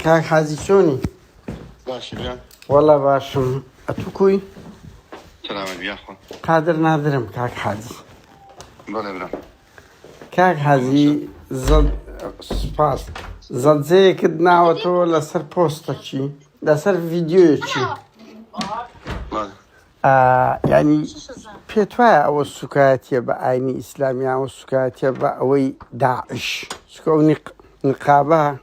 کاک حاجی چۆنی؟ باشی برا؟ وەڵا باشم ئەتو کوی؟ سلامت بیاخۆ قادر نادرم کاک حاجی بەڵێ برا کاک حاجی زەڵ سپاس زەڵجەیەکت ناوەتەوە لەسەر پۆستەکی لەسەر ڤیددیویەکی ینی پێت وایە ئەوە سوکایەتە بە ئاینی ئیسلامیان و سوکایەتە بە ئەوەی داعش سکۆنی نقابە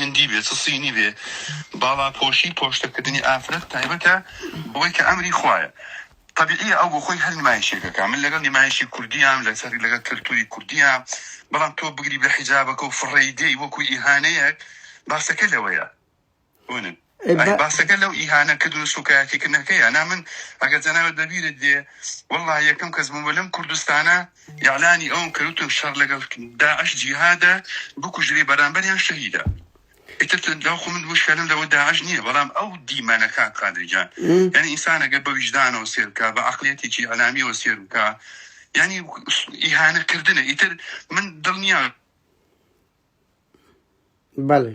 هندی بێ چ سینی بێ باڵا پۆشی پۆشتە کردنی ئافرەت تایبەتە بەوەی کە ئەمری خوایە تەبیعیە ئەو بۆ خۆی هەر نمایشێکەکە من لەگەڵ نمایشی کوردیام لەسەر لەگەڵ کەلتوری کوردیە بەڵام تۆ بگری بە حیجابەکە و فڕێی دێی وەکو ئیهانەیەک باسەکە لەوەیە هونن ئەی باسەکە لەو ئیهانە کردن و سوکایەتی کردنەکەی ئەنا من ئەگەر جەنابت بەبیرت دێ واللە یەکەم کەس بووم لەم کوردستانە یاعلانی ئەوم کردوتم شەڕ لەگەڵ داعش جیهادە بکوژری بەرامبەریان شەهیدە ئیتر لەو خۆ من مشکلم لەوە داعش نییە بەڵام ئەو دیمەنەکان قادرجان یعنی ئینسانەگە بە ویژدانەوە سێرکە بە عقلێتێکی ئەلامیەوە سێرکە یعنی ئیهانەکردنە ئیتر من دڵنییا بەڵێ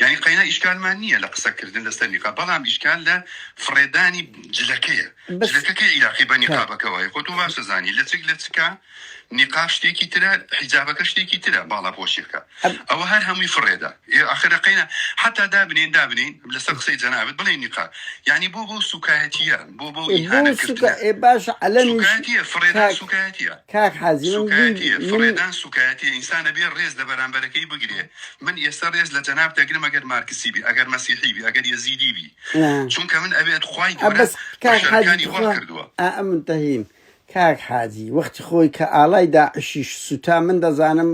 یانی قەینا ئیشکالمان نییە لە قسە کردن لەسەر نیقاب بەڵام ئیشکال لە فڕێدانی جلەکەیە بەس جلەکە کەی عیلاقەی بە کاک نیقابەکەوە هەیە خۆ تۆ باش دەزانی لەچک لە چکە نیقاب شتێکی ترە حیجابەکە شتێکی ترە باڵا پۆشیەکە ئەب ئەوە هەر هەمووی فڕێدا ئێ ئاخرە قەینا حتا دابنین دابنین لەسەر قسەی جەنابت بڵێ نیقاب یعنی بۆ بەو سوکایەتیە بۆ بەو ئێ بۆ ئیهانە سوکا کردنە ئێ باش عەلەمیش سوکایەتیە فڕێدان کاک سوکایەتیە کاک حازی من بی سوکایەتیە من فڕێدان سوکایەتیە ئینسانە بێ ڕێز لە بەرامبەرەکەی بگرێ من ئێستە رێز لە جەناب دەگرم ئەگەر مارکسی بی ئەگەر مەسیحی بی ئەگەر یەزیدی بی چونکە من ئەوێت خوای گەورە بەشەرەکانی وا کردووە. کاک حاجی وەختی خۆی کە ئاڵای داعشیش سوتا من دەزانم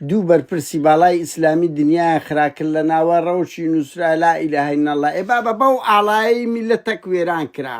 دوو بەرپرسی باڵای ئیسلامی دنیایان خرا کرد لە ناوە ڕەوشی نووسرا لا ئیلاهە ئیلا اللە ئێ بابە بەو ئاڵایەی میللەتەک وێران کرا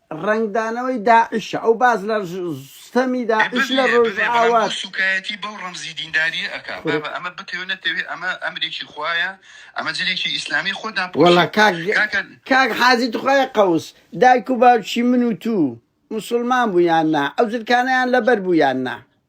ڕەنگدانەوەی داعشە ئەو باس لە ستەمی داعش لە ڕۆژئاوا. ببێ سوکایەتی بەو ڕەمزی دینداریە ئەکا بابە ئەمە بتەوێ نەتەوێ ئەمە ئەمرێکی خوایە ئەمە جلێکی ئیسلامی خۆ داپۆشی وەڵا کاک کاکە کاک حاجی تخوایە قەوس دایک و باوکی من و توو موسڵمان بوو یان نا ئەو جلکانەیان لەبەر بوو یان نا.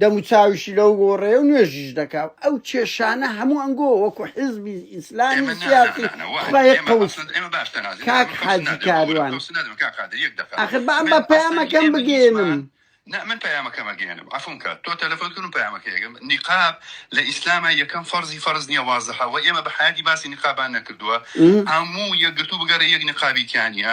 دەم و چاویشی لەو گۆڕەیە و نوێژیش دەکا و ئەو کێشانە هەموو ئەنگۆ وەکو حیزبی ئیسلامی ئێمە سیاسی نانانانە وای خوێ ئێمە قوت ئەسڵەن ئێمە باش تەنازل کاک ئێمە کەوسن حاجی نادەن بەخۆرە کاروان کەوسن نادەن کاک قادر یەک دەقە ئاخر با من با ئەسڵەن پەیامەکەم ئێمە بگەێنم هیچمان نا من پەیامەکەم ئەگەیەنم عەفوم کە تۆ تەلەفۆن کردم پەیامەکە یەکەم نیقاب لە ئیسلامە یەکەم فەرزی فەرز نییە وازحە وە ئێمە بە حیاتی باسی نیقابان نەکردووە م؟ هەموو یەکگرتوو بگەڕێ یەک نیقابی تیا نییە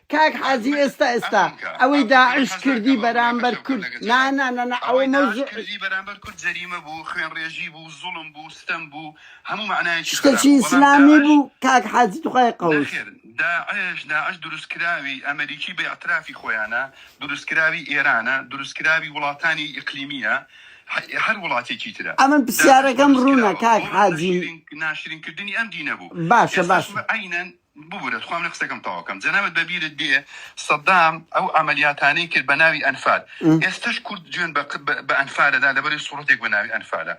کاک حاجی ئێستا ئێستا ئەوەی داعش کردی بەرامبەر کورد نا نا نا نا ئەوە مەوزوع شتەکی ئیسلامی بوو کاک حاجی توخای قەوس داعش داعش دروستکراوی ئەمریکی بە ئەترافی خۆیانە دروستکراوی ئێرانە دروستکراوی وڵاتانی ئیقلیمیە هەر وڵاتێکی ترە ئەمن پرسیارەکەم ڕوونە کاک حاجی ناشرینکردنی ئەم دینە بوو باشە باش عینەن ببورە تخوا منە قسەکەم تەواو کەم جەنابت بەبیرت بێ سەدام ئەو عملیاتانەی کرد بە ناوی ئەنفال ئێستش کورد جوێن بە ئەنفالەدا لەبەری سوڕەتێک بە ناوی ئەنفالە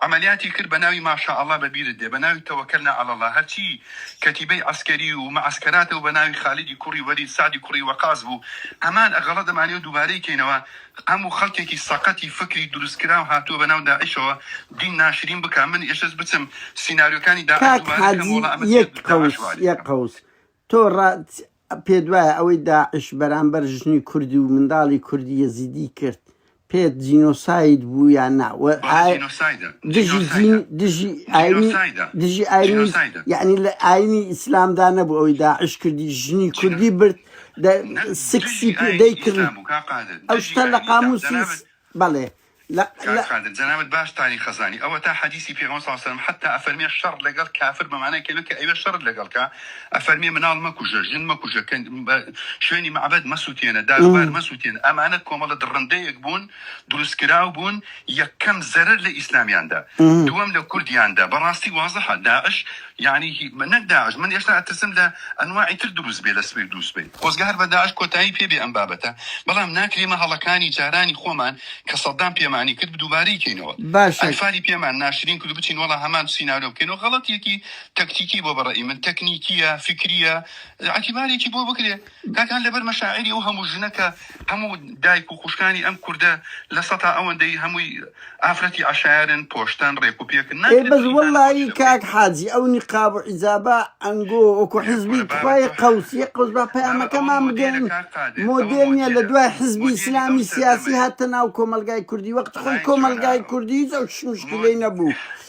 عملیاتی کرد بە ناوی ماشا ئەڵا بەبیرت دێ بە ناوی تەوەکەلنا ئەڵڵا هەرچی کەتیبەی عسکەری و مەعسکەراتە و بە ناوی خالیدی کوڕی وەلید سعدی کوڕی وەقاز بوو هەمان ئەغەڵە دەمانێ و دووبارەی کەینەوە هەمو خەلکێکی سەقەتی فکری دروست کراو هاتوە بەناو داعشەوە دین ناشرین بکا من ئێشەس بچم سیناریۆکانی داعش کاک دوبارە کەم حاجی وەڵا ئەمە چیە یەک داعش قوس وعلی یەک کردن. قوس تۆ ڕا پێت وایە ئەوەی داعش بەرامبەر ژنی کوردی و منداڵی کوردی یەزیدی کرد پێت جینۆساید بوو یان نا و ئا بەڵێ جینۆسایدە دژی جینۆسایدە جین دژی ئاینی جینۆسایدە دژی ئاینی جینۆسایدە یەعنی لە ئاینی ئیسلامدا نەبوو ئەوەی داعش کردی ژنی جینۆ کوردی برد سکسی پێدەی کرد ئەو شتە لە قاموسی بەڵێ قادر جەنابت باش تانی خەزانی ئەوە تا حەدیسی پێغەمبەر صلی الله علیه و سلم حتی ئەفەرمێ شەڕ لەگەڵ کافر بە معنای کەلمە کە ئەوێ شەڕ لەگەڵ کا ئەفەرمێ مناڵ مەکوژە ژن مەکوژە کە شوێنی معبد مەسووتێنە داروبار مەسووتێن ئەمانە کۆمەڵە دڕندەیەک بوون دروستکراو بوون یەکەم زەرەر لە ئیسلامیاندا دووەم لە کوردیاندا بەڕاستی وازەحە داعش یەعنی هی نەک داعش من ئێشتا ئەترسم لە ئەنواعی تر دروست بێ لە سویر دروست بێ خۆزگە هەر بە داعش کۆتایی پێ بێ ئەم بابەتە بەڵام ناکرێمە هەڵەکانی جارانی خۆمان کە سەدام پێمانی کرد دووبارەی کەینەوە باشە ئەنفالی پێمان ناشرین کرد بچین وەڵا هەمان سینارۆ بکەینەوە غەڵەتێکی تەکتیکی بۆ بە ڕەئی من تەکنیکیە فکریە ئەتیبارێکی بۆ بکرێ داکان لەبەر مەشاعیری ئەو هەموو ژنە کە هەموو دایک و خوشکانی ئەم کوردە لە سەتا ئەوەندەی هەمووی ئافرەتی عەشایەرن پۆشتن ڕێک و پێکن نا ئێ بەس وەڵایی کاک حاجی ئەو نیقاب و حیجابە ئەنگۆ وەکو حیزبی تخوای قەوس یەک قەوس با پەیامەکەمان بگەیەنن مۆدێل نیە لە دوای حیزبی ئیسلامی سیاسی هاتە ناو کۆمەڵگای کوردی وەختی خۆی کۆمەڵگای کوردی هیچ ئەو شمشکیلەی نەبوو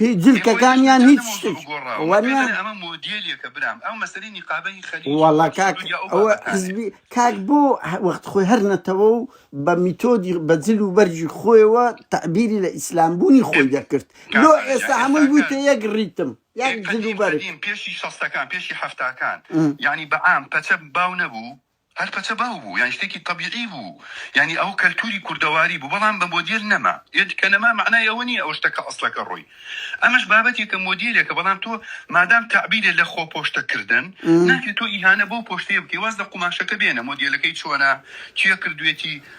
هی جلکەکان یان هیچ شتێک وەرە ئەمە مۆدیلیەکە برام ئەو مەسەری نیقابە هی خەلی وڵا کاک ئەوە حزبی کاک بۆ وەخت خۆی هەر نەتەوە و بە میتۆدی بەجل و بەرجی خۆیەوە تعبیری لە ئیسلام بوونی خۆی دەکرد لۆ ئێستا هەمووی بوویتە یەک ڕیتم یان جل و بەرگ پێشی شەستەکان پێشی هەفتاکان یعنی بەعام پەچە باو نەبوو هەر پەچە باو بوو یانی شتێکی تەبیعی بوو یانی ئەوە کەلتوری کوردەواری بوو بەڵام بە مۆدیل نەما یەت کە نەما مەعنای ئەوە نیە ئەو شتەکە ئەسڵەکە ڕۆی ئەمەش بابەتێکە مۆدیلێکە بەڵام تۆ مادام تەعبیرێ لە خۆ پۆشتە کردن ناکرێ تۆ ئیهانە بەو پۆشتەیە بکەی واز لە قوماشەکە بێنە مۆدیلەکەی چۆنە کێ کردوێتی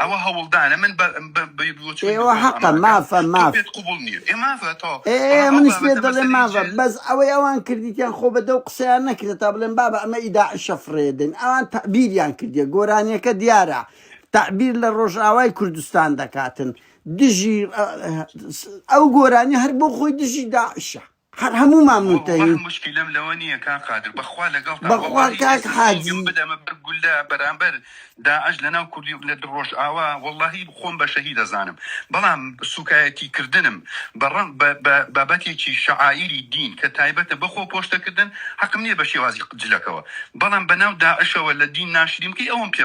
ئەوە هەوڵدانە من بە بە بە بۆچی من ئێوە دکتۆر حەقە ئامادە کەم مافە تۆ ماف پێت قوبڵ نییە ئێ مافە تۆ ئێ ئێ بەڵام ئەو منیش پێت بابەتە دەڵێ مەسەلەی مافە جێ بەس ئەوەی ئەوان کردیتیان خۆ بە دەو قسەیان نەکردێت تا بڵێن بابە ئەمە ئی داعشە فڕێ دەین ئەوان تەعبیریان کردیە گۆرانیەکە دیارە تعبیر لە ڕۆژئاوای کوردستان دەکاتن دژی ئە، س- ئەو گۆرانی هەر بۆ خۆی دژی داعشە هەر هەموومان منتەهین. وەڵا موشکیلەم لەوە نیە کاک قادر بەخوا لەگەڵتام بەخوا وەڵاهی کاک ئێستا حاجی. جەنگم بدەمە بەر گوللە بەرامبەر داعش لەناو کوردی لە دڵ ڕۆژئاوا وەڵاهی خۆم بە شەهید ئەزانم بەڵام سوکایەتی کردنم بە ڕە بە بە بابەتێکی شەعائیری دین کە تایبەتە بە خۆ پۆشتە کردن حەقم نیە بە شێوازی جلەکەوە بەڵام بەناو داعشەوە لە دین ناشرین بکەی ئەوەم پێ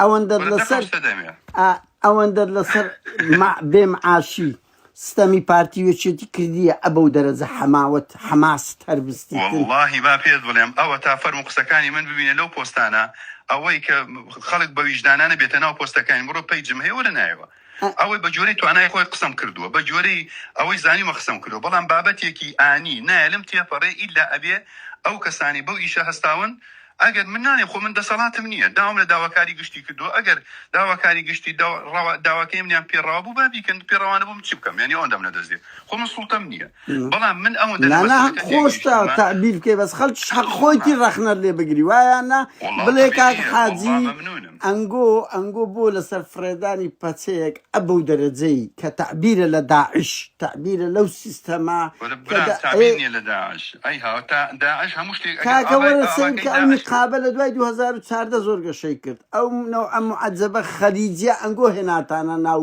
ئەوەندەت لەسەر ئا ئەوەندەت لەسەر مع بێ معاشی ستەمی پارتی و یەکێتی کردیە ئە بەو دەرەجە حەماوەت حەماست هەر بستیتن وەڵاهی با پێت بڵێم ئەوەتا فەرموو قسەکانی من ببینە لەو پۆستانە ئەوەی کە خەڵک بە ویژدانانە بێتە ناو پۆستەکانی بڕۆ پەیجم هەیە وەرە نایەوە ئەوەی بە گوێرەی توانای خۆی قسەم کردووە، بە گوێرەی ئەوەی زانیومە قسەم کردووە، بەڵام بابەتێکی ئانی نایەلم تێپەڕێ ئیلا ئەبێ ئەو کەسانەی بەو ئیشە هەستاون ئەگەر من ناڵێم خۆ من دەسەڵاتم نییە داوام لە داواکاری گشتی کردووە ئەگەر داواکاری گشتی داوا ڕەوا داواکەی منیان پێ ڕەوا بوو با بیکەن پێ ڕەوا نەبوو من چی بکەم یانی ئەوەندەم لە دەست دێ خۆ من سوڵتەم نییە بەڵام من ئەوە نانا هەق خۆشتە تەعبیر بکەی بەس خەلکیش حەق خۆیتی ڕەخنەت لێ بگری وایە نا بڵێ کاک حاجی ئەنگۆ ئەنگۆ بۆ لەسەر فرێدانی پەچەیەک ئەبە و دەرەجەی کە تەعبیرە لە داعش تەعبیرە لەو سیستەما کاکە وەرە سەیر کە ئەو نقابە لە دوای 2014 زۆر گەشەی کرد ئەو نەوعە معجبە خەلیجە ئەنگۆ هێناتانە ناو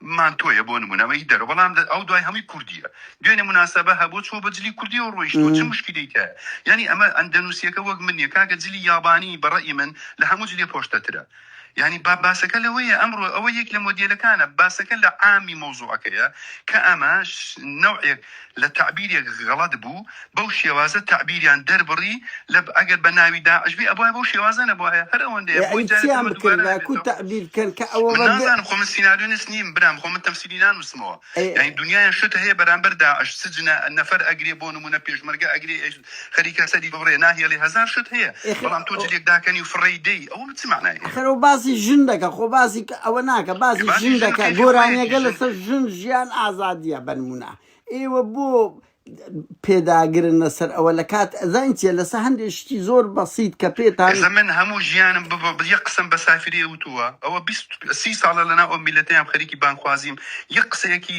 من تۆیە بۆ نمونە ئەمە هی دەرەوە بەڵام ئەو دوای هەمووی کوردیە دوێنێ مناسەبە هەبوو چۆ بە جلی کوردی و ڕۆیشتەوە چ مشکلی تە یعنی ئەمە ئەندەنوسیەکە وەک من نیە کاکە جلی یابانی بەڕەئی من لە هەموو جلێ پۆشتەترە یعنی با باسەکە لەوەیە ئەمڕۆ ئەوە یەک لە مۆدێلەکانە باسەکە لە عامی مەوزوعەکەیە کە ئەمە نەوعێک لە تەعبیرێک غەڵەت بوو بەو شێوازە تەعبیریان دەربڕی لە ئەگەر بە ناوی داعش بی ئەبوایە بەو شێوازە نەبوایە هەر ئەوەندەیە ئێ بۆی ئەی جارێ تر چیان بە دووبارە بکردبا کو نەبێتەوە تەعبیر کەن کە ئەوە من بەگە نازانم خۆ من سیناریۆنیست نیم برام خۆ من تەمسیلی نانووسمەوە یانی ئەی دونیایان شت هەیە بەرامبەر داعش سجنە نەفەر ئەگرێ بۆ نموونە پێشمەرگە ئەگرێ ئێش خەریکە سەری گۆڕێ ناهێڵێ هەزار شت هەیە بەڵام تۆ جلێک داکەنی و فڕێی دەی ئەوە چ مەعنای هەیە. ئەخەر ئەو باسی ژن دەکا خۆ باسی ئەوە ناکا باسی ژن دەکا گۆرانیەکە لەسەر ژن ژیان ئازادیە بەنمونە ئێوە بۆ پێداگرن لەسەر ئەوە لە کات ئەزان چیە لەسەر هەندێک شتی زۆر بەسییت کە پێتان ئێستا من هەموو ژیانم ببە بڵیە قسەم بە سافرێ وتووە ئەوە بیست سی ساڵە لەناو ئەو میلەتەیام خەریکی بانگخوازیم یەک قسەیەکی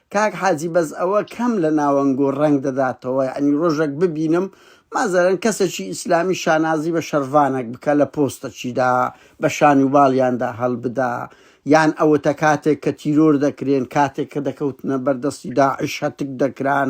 کاک حاجی بەس ئەوە کەم لە ناوەنگۆ ڕەنگ دەداتەوە یەعنی ڕۆژەک ببینم مازەرەن کەسەکی ئیسلامی شانازی بە شەرڤانەک بکە لە پۆستەکیدا بە شان و باڵیاندا هەڵبدا یان ئەوەتە کاتێک کە تیرۆر دەکرێن کاتێک کە دەکەوتنە بەردەستی داعش هەتک دەکران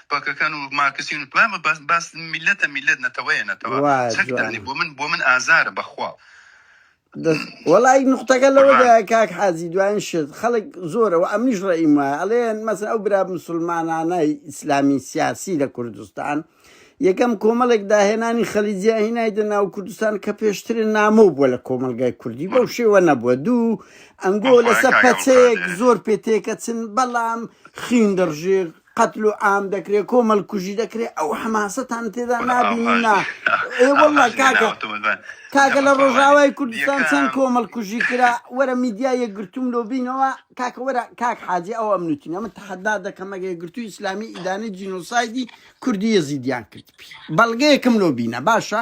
پاکەکان و مارکسین بابە باس باس میلەتە میلەت نەتەوەیە نەتەوە وا چەک جوانە. دانی بۆ من بۆ من ئازارە بەخوا دەست وەڵی نقطەکە قوربان. لەوەدا کاک حازی دوایین شت خەڵک زۆرە و ئەمنیش ڕێیم وایە ئەڵێن مەسن ئەو برا مسلمانانای ئیسلامی سیاسی لە کوردستان یەکەم کۆمەڵێک داهێنانی خەلیجیا هینایدە ناو کوردستان کە پێشترین نامۆ بووە لە کۆمەلگای کوردی بەو شێوە نەبووە دوو ئەنگۆ بەخوای لەسەر کاک پەچەیەک ئەوکادێ. زۆر پێ تێکەچن بەڵام خین دەڕژێ قەتل و عام دەکرێ کۆمەل کوژی دەکرێ ئەو حەماسەتان تێدا نابینی نا ئێ واللە کاکە کاکە لە ڕۆژاوای کوردستان چەند کۆمەل کوژی کرا وەرە میدیا یەکگرتووم لۆ بینەوە کاکە وەرە کاک حاجی ئەو ئەمنوتی ئەمە تەحەدا دەکەم ئەگە یەکگرتوو ئیسلامی ئیدانەی جینۆسایدی کوردی یەزیدیان کرد بەڵگەیەکم لۆ بینە باشە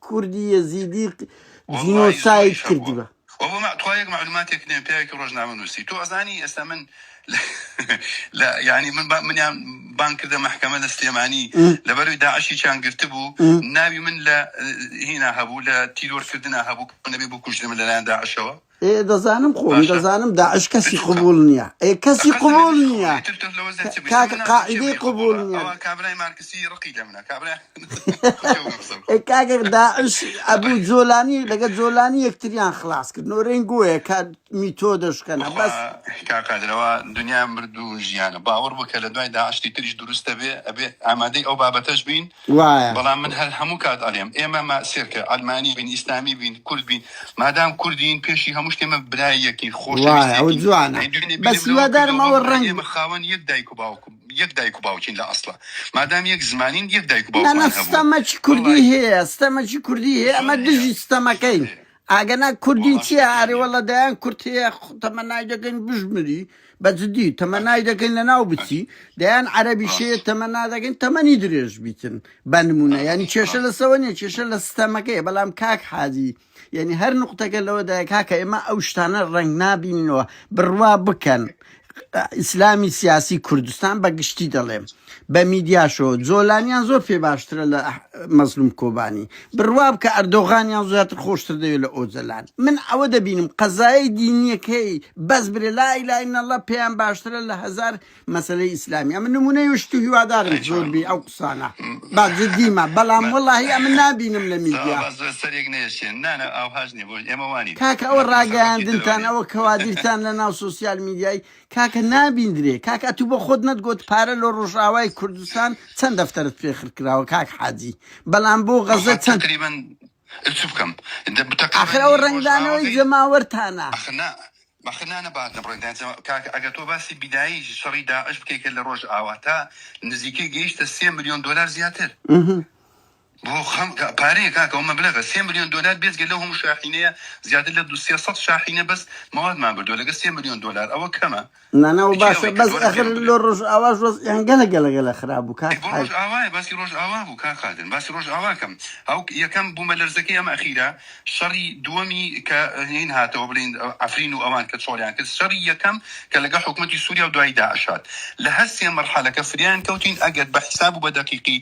کوردی یەزیدی ق- وەڵاهی زۆری جینۆساید شەڕ بووە کردوە و بە مە- تخوا یەک معلوماتێک نێم پیاوێکی ڕۆژنامە نووسی تۆ ئەزانی ئێستا من لە لە- یعنی من با- منیان بان کردە محکمە لە سلێمانی م، لەبەروی داعشی چیان گرتبوو م. ناوی من لە هینا هەبوو لە تیرۆر کردنا هەبوو کە نەبێ بکوژرێمە لەلایەن داعشەوە ئێ دەزانم خۆم باشە دەزانم داعش کەسی ئەتوو قبوڵ نیە ئێ کەسی قەت قبوڵ نەبینی خۆ نیە ئیتر تۆ لەوە زیاد چ بکەی کاک سەرمەنام بۆ کێ قاعدەی بڵێ قبوڵ قبوڵە نیە ئەوە کابرای مارکسی ڕقی لە منە کابرای خۆ کێ بڵێم قسە ئێ بکۆم کاک داعش ئەبو جۆلانی لەگە جۆلانی یەکتریان خلاس کرد نۆرەین گۆیە کە میتۆدە شکەنە بەخوا بەس کا قادرەوە دنیا مردوو ژیانە باوەڕ بکە لە دوای داعشتی تریش دروستە بێ ئەبێ ئامادەی ئەو بابەتەش بین وایە. بەڵام من هەر هەموو کات ئەڵێم ئێمە ماسێرکە عەلمانی بین ئیسلامی بین کورد بین مادام کوردین پێشی هەموو شتێ مە برای یەکین خۆشەویست یەکین. وایە ئەوە جوانە بەس هیوادارم ئەوە ڕەنگ بە. خاوەن یەک دایک و باوکم یەک دایک و باوکین لە ئەسڵا مادام یەک زمانین یەک دایک و باوکمان هەبووە. نەنە ستەمەکی کوردی هەیە ستەمەکی کوردی هەیە ئەمە دژی ستەمەکەین ئاگەنا کوردی وەڵاش چیە ئەرێ وەللە تورکیانیم دەیان کورد هەیە خ- تەمەنای دەکەین بژمری بە جدی تەمەنای باش دەکەین لە ناو بچی باش دەیان عەرەبی شێ ڕاستە تەمەنا دەکەین تەمەنی درێژ بیتن بە نمونە یعنی ڕاستە کێشە ڕاستە لەسەوە نیە کێشە لە ستەمەکەیە بەلام کاک حاجی یعنی هەر نقطەکە لەوەدایە کاکە ئێمە ئەو شتانە ڕەنگ نابینینەوە بڕوا بکەن ئیسلامی سیاسی کوردستان بە گشتی دەڵێم بە میدیاشەوە جۆلانیان زۆر پێ باشترە لە مەزلوم کۆبانی بڕواب کە ئەردۆغانیان زیاتر خۆشتر دەوێت لە ئۆجەلان من ئەوە دەبینم قەزایە دینیەکەی بەس برێ لای لای نەڵە پێیان باشترە لە هزار مەسلەی ئیسلامی ئەمە نمونەی شت و هیوادارم زۆر بی ئەو افسانە با جدی ما بەڵام بە وەڵاهی ئەمن نابینم لە ساوا میدیا. با زۆر سەریک نەیەشێن نا نا ئاوهاش نیە بۆ ئێمە وانین کاکە ئەوە مەترسە خەڵکی راگەیاندنتان درۆنین ئەوە کەوادیرتان لە ناو سۆسیال میدیای کاکە نابیندرێ کاکە ئەتوو بۆ خۆت نەتگۆت پارە لۆ رۆژئاوای کوردستان چەند دەفتەرت پێ خرکراوە کاک حاجی بەڵام بۆ بەخوا غەزە چەند تەقریبەن چ بکەم دە- تەقریبا ئاخر ئەوە نیوەش ڕەنگدانەوەی ئاوەکەی جەماوەرتانە ئەخ نا بەخت نا نەبات نەبڕێ دەنجە کاکە ئەگەر تۆ باسی بینایی شەڕی داعش بکەی کە لە ڕۆژ ئاوا تا نزیکەی گەیشتە سێ ملیۆن دۆلار زیاتر بۆ خەم پارەیە کاکە ئەو مەبلەغە سێ ملیۆن دۆلار بێجگە لەو هەموو شاحینەیە زیاتر لە دو سێ سەد شاحینە بەس موادمان بردووە لەگە سێ ملیۆن دۆلار ئەوە کەمە نانا و باشە بەس ئەخر لۆ ڕۆژ ئاوا ژۆز ئەنگەلە گەلەگەلە خراب بوو کاک ڕۆژ ئاوای باسی ڕۆژ ئاوا بوو کاک قادر باسی ڕۆژ ئاواکەم ئەو یەکەم بوومە لەرزەکەی ئەم ئەخیرە شەڕی دووەمی کە هین هاتەوە بلین عەفرین و ئەوان کە چۆڵیان کرد شەڕی یەکەم کە لەگەڵ حکومەتی سوریا و دوایی داعش هات لە هەر سێ مەرحەلەکە فریایان کەوتین ئەگەر بە حیساب و بە دەقیقی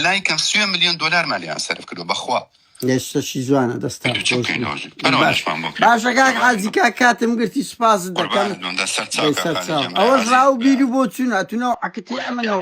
لای کەم سوێ ملیۆن دۆلارمان لێیان سەرف کردوە بەخوا لەشتەشی جوانە دەستا باشەکان حاجیکا کاتم گرتی سپاس دەکەم ئەوە ڕاو بیر بۆ چون ئەتونەوە عکتی ئەمەەوە